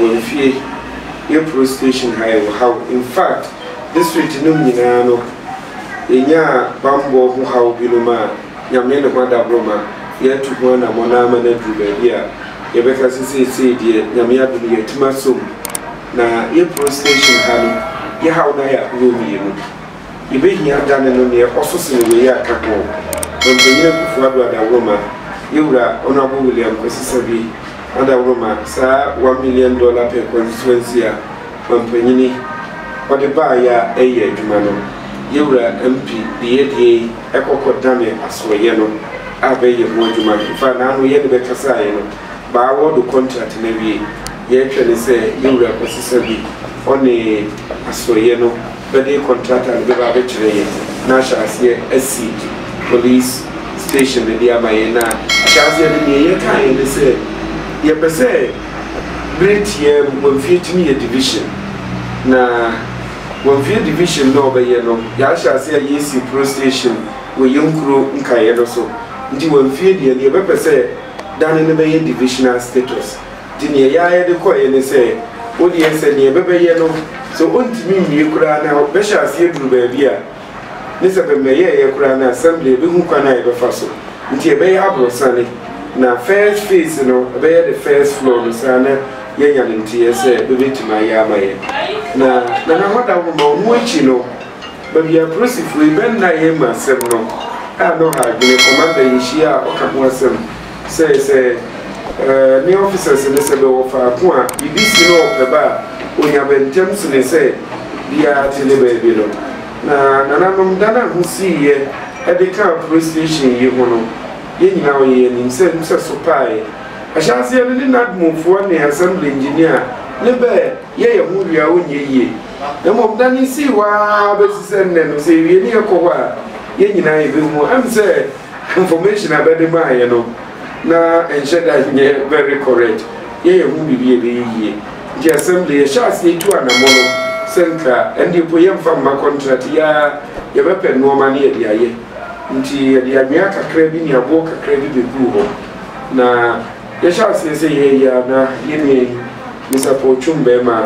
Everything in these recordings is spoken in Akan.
Yɛn fie yɛ police station ha yɛwɔ haw infact district nom nyinaa no yɛnyaa banbɔ ho haw binom a Nyame ne ho adaboro ma yɛatu ho anamɔn ama no aduru baabi a yɛbɛka sɛ seesei deɛ Nyame adom yɛatim asɔ mu na yɛ police station ha no yɛ haw no ayɛ ahoroɔ mmienu. Yɛbɛhia adane no deɛ ɔso sene wei a ka ho, Ɔmpanyin Akufo-Addo Adaworoma, Yɛwura Honourable William Kwesi-Sabi Adaworoma, saa one million dollar per constituency a Ɔmpanyini ɔde baeɛ a ɛyɛ adwuma no, Yɛwura MP Diye-Diye yi ɛkɔkɔ dane asoɛyɛ no a bɛyɛ ho adwuma, in fact naano yɛne bɛ kasaeɛ no bɛ awɔɔdo contract no awie, yɛtwɛne sɛ Yɛwura Kwesi-Sabi ɔne asoɛyɛ no. bɛde kɔntrata no bɛba abɛkyerɛ yɛn na ahyɛ aseɛ asi polis station no de ama yɛn a. Ahyɛaseɛ no, deɛ yɛkaeɛ ne sɛ yɛpɛ sɛ berɛ tiaa mu Wamfie akyi no yɛ division, na Wamfie division no a wɔbɛyɛ no, yɛahyɛ aseɛ a yɛresi police station wɔ yɛn nkuro nkaeɛ no so, nti Wamfie deɛ, deɛ yɛbɛpɛ sɛ dane no bɛyɛ divisional status. Nti neɛ yɛayɛ de kɔeɛ ne sɛ, wo deɛ sɛ neɛ bɛbɛyɛ no sɛ ɔntumi nwie koraa na bɛhyɛ aseɛ duru baabi a, ne sɛ bɛmmɛyɛeɛ koraa na Assembly bɛhu kwan a yɛbɛfa so. Nti ɛbɛyɛ aborɔsane, na first phase no ɛbɛyɛ the first floor no saa na yɛanya no nteeɛ sɛ bɛbɛtumi ayɛ ama yɛn. Na Nana Hɔdaworo ma ɔno akyi no, baabi a Apolisifoɔ yi bɛnnaeɛ mu asɛm no a na ɔha adwene, Commander yɛhyiaa a ɔka ho asɛm, Sɛ sɛ ne officers no sɛ bɛwɔ faako a biribi si na ɔpɛ ba a, ɔnya bɛ ntɛm sene sɛ biara te ne baabi no. Na nananom da no a ho siiɛ de kaa police station yi ho no, yɛn nyinaa ɔyɛ yɛn anim sɛ nsɛso paaɛ. Ahyɛaseɛ no ne NADMO foɔ ne Assembly Engineer ne bɛ yɛ yɛn ho hwee a ɔnyɛ yie. Na mmom da no sii hɔ ara bɛsi sɛ nnɛ no, sɛ yɛwie ne yɛkɔ hɔ a, yɛn nyinaa yɛbɛhu. Ɛm sɛ. Information a bɛde maa yɛ no na ɛnhyɛ da nyɛ very correct, yɛ yɛ ho biribi a ɛbɛyɛ yie. Nti Assembly yɛ hyɛ aseɛ tu anamɔ no sɛ nka ɛndeɛ mpo yɛ nfa mma contract yi ara, yɛ bɛ pɛ nnoɔma na yɛ de ayɛ. Nti yɛ de anwea kakra bi ne aboɔ kakra bi bɛ guu hɔ na. Yɛhyɛ aseɛ sɛ yɛn yi a na yɛn nua yi ne sapɔw twom bɛɛma a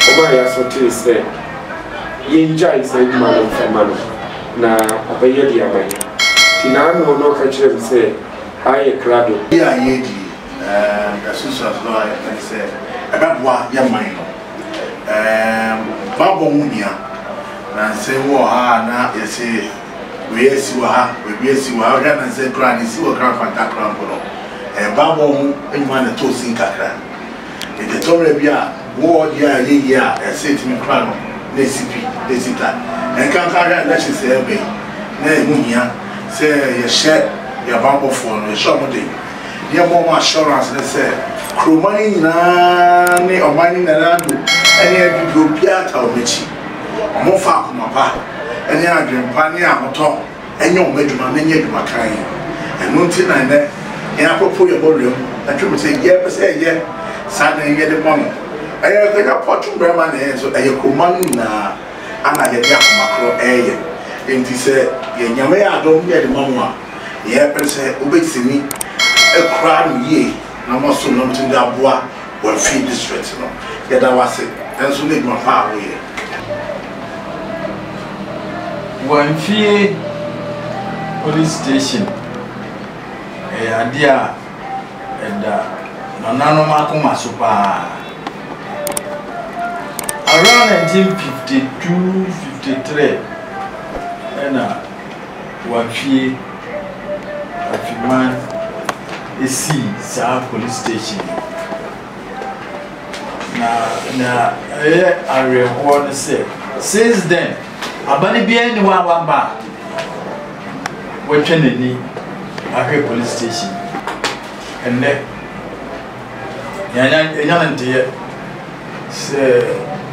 ɔmaa yɛasɔtee sɛ yɛn gyae saa adwuma no mfa ma no na ɔbɛyɛ de ama yɛn nti na ano na ɔka kyerɛ me sɛ aayɛ krado. Yi a yɛredi yi ɛɛm asusuasoɔ a yɛpɛ ne sɛ ɛbɛboa yɛn man no ɛɛm baabɔ ho hia na nsɛm bi wɔ hɔ a na yɛse Wei asi wɔ ha, baabi asi wɔ ha, wohwɛ a na sɛ koraa deɛ ɛsi wɔ Kranfanta koraa mpo no, ɛbammɔ ho nnwuma na ɛtɔɔ sin kakra. Enti ɛtɔ mmerɛ bi a, wall deɛ a ɛyɛ yie a ɛsɛ ɛtumi kora no, na ɛsi pi, na ɛsi ta. Ɛnkanka wohwɛ a elections a ɛreba yi, na ɛho hia sɛ yɛhyɛ yɛn abammɔfoɔ no, yɛhyɛ wɔn den, na yɛma wɔn assurance no sɛ kuroma no nyinaa ne ɔman no nyinaa do ne abibire obiara taa wɔn akyi. Wɔmfa akoma pa ne adwene pa ne ahotɔ nyɛ wɔn adwuma na ɛnyɛ adwuma kann. Ɛno nti na nnɛ yɛn akofo yɛbɔ wura mu na twe mu sɛ yɛpɛ sɛ yɛyɛ saa na yɛn yɛde bɔ no. Ɛyɛ yɛn pɔ twe mu bere ma na yɛn nso ɛyɛ koma no nyinaa na yɛde akoma koro reyɛ. Enti sɛ yɛn Nyame yɛ adom na yɛde ma mo a, yɛpɛ sɛ mobɛtumi akura no yie na moasom na motumi de aboa Wafiri district no. Yɛda wo ase nso ne adwuma pa a woyɛ. Wamfie police station ɛyɛ adeɛ a ɛda nananom akoma so paa. Around 1952, 53 ɛna wɔatwie atweman sii saa polis station yi. Na nea ɛyɛ awerɛhoɔ no sɛ, since then, abane biara nni hɔ a waba a watwa n'ani ahwɛ polis station. Ɛnnɛ, Yɛanya no nteyɛ sɛ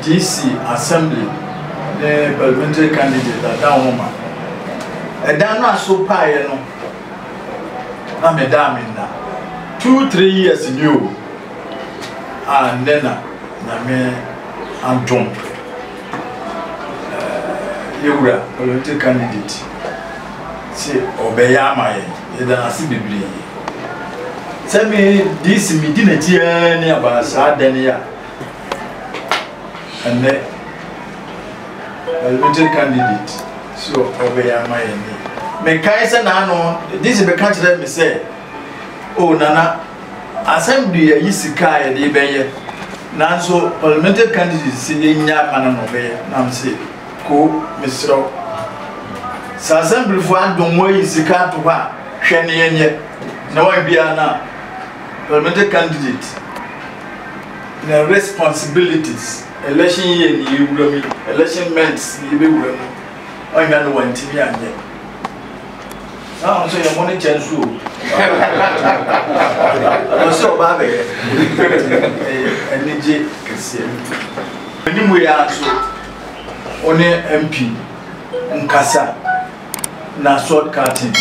DC, Assembly ne Parliamentary candidate Adan Homah. Ɛdan no aso paeɛ no na me da a me nna. Two, three years ni o a nnɛ na Nyame adom. Yɛ wura Olonte candidate se ɔbɛyɛ ama yɛn yɛda no ase bebree sɛ me DC me di n'akyi ara ni aba saa dɛn yɛ ɛnɛ Olonte candidate so ɔbɛyɛ ama yɛn ni mekae sɛ n'ano DC bɛka kyerɛ me sɛ o oh, nana Asɛm de yɛayi sika a yɛde bɛyɛ nanso parliamentary candidate se yɛnnya mma no na ɔbɛyɛ na mese koo mesrɛ wo sɛ asɛmplifoɔ adom mo ayi sika ato hɔ a hwɛ ne yɛnyɛ na wɔn biara na parliamentary candidate na responsibilities election year ne yɛwura mu election months ne yɛbɛwura mu ɔnwa no wantumi anyɛ Saa ɔno sɛ yɛ mo ne kyɛ nso o. Ɔno sɛ ɔbaa bɛyɛ. Anigye kɛseɛ. Ɛni mu yɛ nso wo ne MP nkasa na sword cutting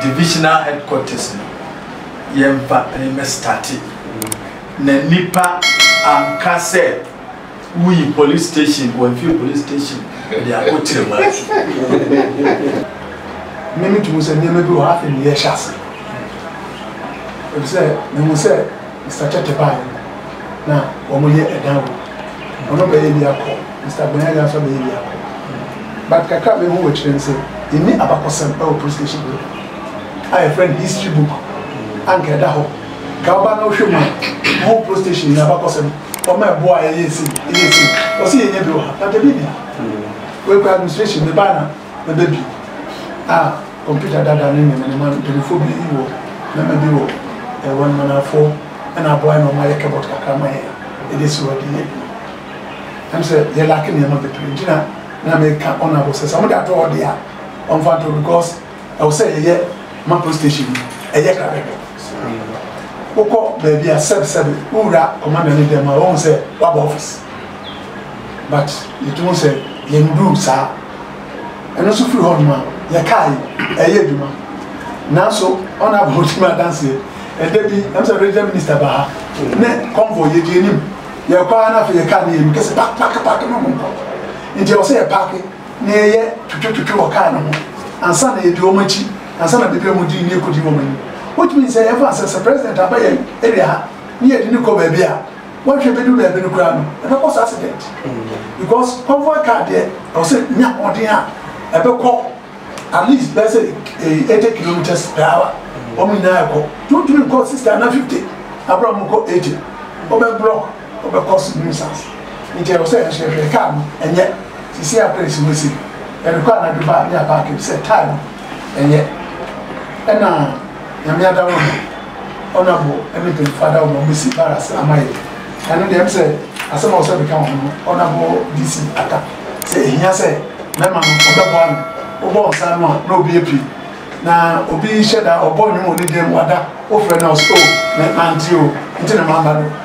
divisional headquarters no yɛmpa ne mmɛ starte na nipa anka sɛ. Wuyi police station wɔ nfie police station de akɔ Kyirimati. Nnɛ mitu mu sɛ nneɛma bi wɔ hɔ a afei ne yɛ hyɛ ase. Efisɛ mihu sɛ Mister Kyɛtɛ baeɛ no na wɔn yɛ ɛdan wɔ mu. Ɔno bɛyɛ bi akɔ, Mister Agbanyaagyaa nso abɛyɛ bi akɔ. But kakra a mehu wɔ akyire ne sɛ yɛnni abakɔsɛm ɛwɔ police station bi hɔ a yɛfrɛ no history book a nka ɛda hɔ. Nka woba na wohwɛ mu a wohu police station yi abakɔsɛm. Wɔma ɛboɔ a ɛyɛ sei, ɛyɛ sei. Wɔse yɛnyɛ bi wɔ ha. But ebi ni ha. Wei koraa administration, mebaa na mɛbɛ bi. A computer dada ne nneɛma nneɛma no, mpanimfoɔ bi wɔ, mmarima bi wɔ ɛwɔ no manafoɔ na aboa yɛn na wɔayɛ cupboard kakra ama yɛn de asi hɔ de yɛ adwuma. Ɛm sɛ yɛ lack nneɛma bebree nti na na meka honourable sɛ sɛ wɔde ato hɔ deɛ a wɔmfa nto hɔ because, Ɛwɔ sɛ yɛyɛ ma police station no ɛyɛ krabɛbɛ. Wokɔ baabi a sɛbsɛbe wowura commander ne dɛm a wohu sɛ waba office but yɛtumi hu sɛ yɛnduru saa. Ɛno nso firi hɔnom a yɛ car yi ɛyɛ adwuma nanso honourable ɔdi me adanseɛ ɛda bi ɛm sɛ regional minister ba ha ne convoy yɛdi anim yɛkɔ ara na afei yɛ car no yɛ anim kɛsɛ park park park no monkɔ nti ɛwɔ sɛ yɛ park na yɛyɛ twetwetwetwe wɔ kar no ho ansa na yɛdi wɔn akyi ansa na bepɛ mu di ne yɛkɔdi wɔn anim. Wotumi nsɛ yɛn fa sɛ sɛ President aba yɛn area ha ne yɛde no kɔ baabi a wɔnhwɛ bɛdu baabi no koraa no ɛbɛkɔ sɛ accident because convoy car deɛ ɛwɔ sɛ nya hoɔden a ɛbɛkɔ at least bɛyɛ sɛ 80 kilometers per hour wɔn nyinaa ɛkɔ nti wotumi nkɔ 60 na 50 abra wɔn kɔ 80 wɔbɛ block Ɔbɛ cause nuisance nti ɛwɔ sɛ yɛhwɛ hwɛ car no ɛnyɛ sisi a plate no si yɛde kɔ anadwo ba ne aparke no sɛ time ɛnyɛ ɛna nyame adaworo no honourable ɛne mpanyinfoɔ adaworo no ɔbɛ si barracks ama yɛ ɛno deɛ ɛm sɛ asɛm a ɔsɛ bɛka wɔn no honourable DC aka sɛ ehia sɛ mɛma no ɔbɛ bɔ ano ɔbɔ nsa no a na obi epi na obi hyɛ da ɔbɔ nnwom wɔ ne dan mu wada wofrɛ na ɔsɛ o mɛ mante o nti na maba no.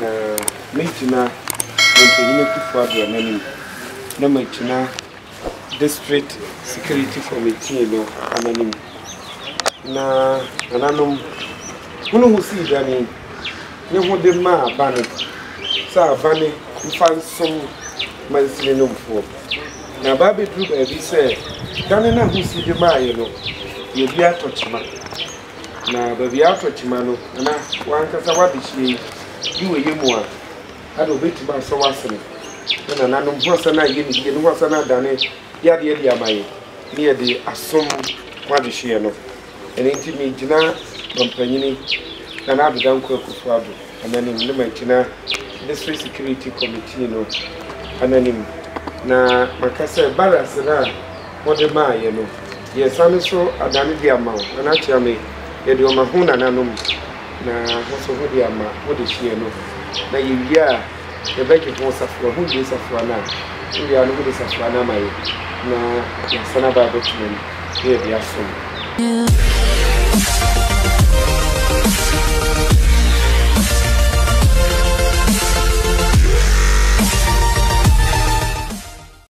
Na mɛgyina Ɔmpanyin Akufo-Addo n'anim, na magyina District Security Committee no wɔn anim. Na nananom, hunu ho sii dane ne ho de ma abane, sɛ abane mfa nsom mansini no mfoɔ. Na aba abɛduru baabi sɛ dane no a ho sii de maaeɛ no, yɛn bi atɔ kyema. Na baabi a atɔ kyima no, ana w'ankasa w'adehyeɛ yi de w'ayɛ mu a, ada ɔbɛtumi asɔ w'asene? Ne nananom ho asane ayɛ ne yie, ne ho asane adane yadeɛ de ama yɛn, ne yɛde asom ho adehyeɛ no. Ɛno nti megyina mampanyini Nana Ado Dankwa Akufo-Addo Ananim na magyina District Security Committee no ananim na maka sɛ barracks no a mode maa yɛn no, yɛsan nso adane de ama wo, Nana Kyeame, yɛde ɔma ho nananom, na ho nso ho de ama ho dehyeɛ no, na yɛwie a, Yɛbɛgye ho safoa, ho nnue safoa no a, wowie a no mode safoa no ama yɛn na yɛasan aba abɛtena mu na yɛde asom.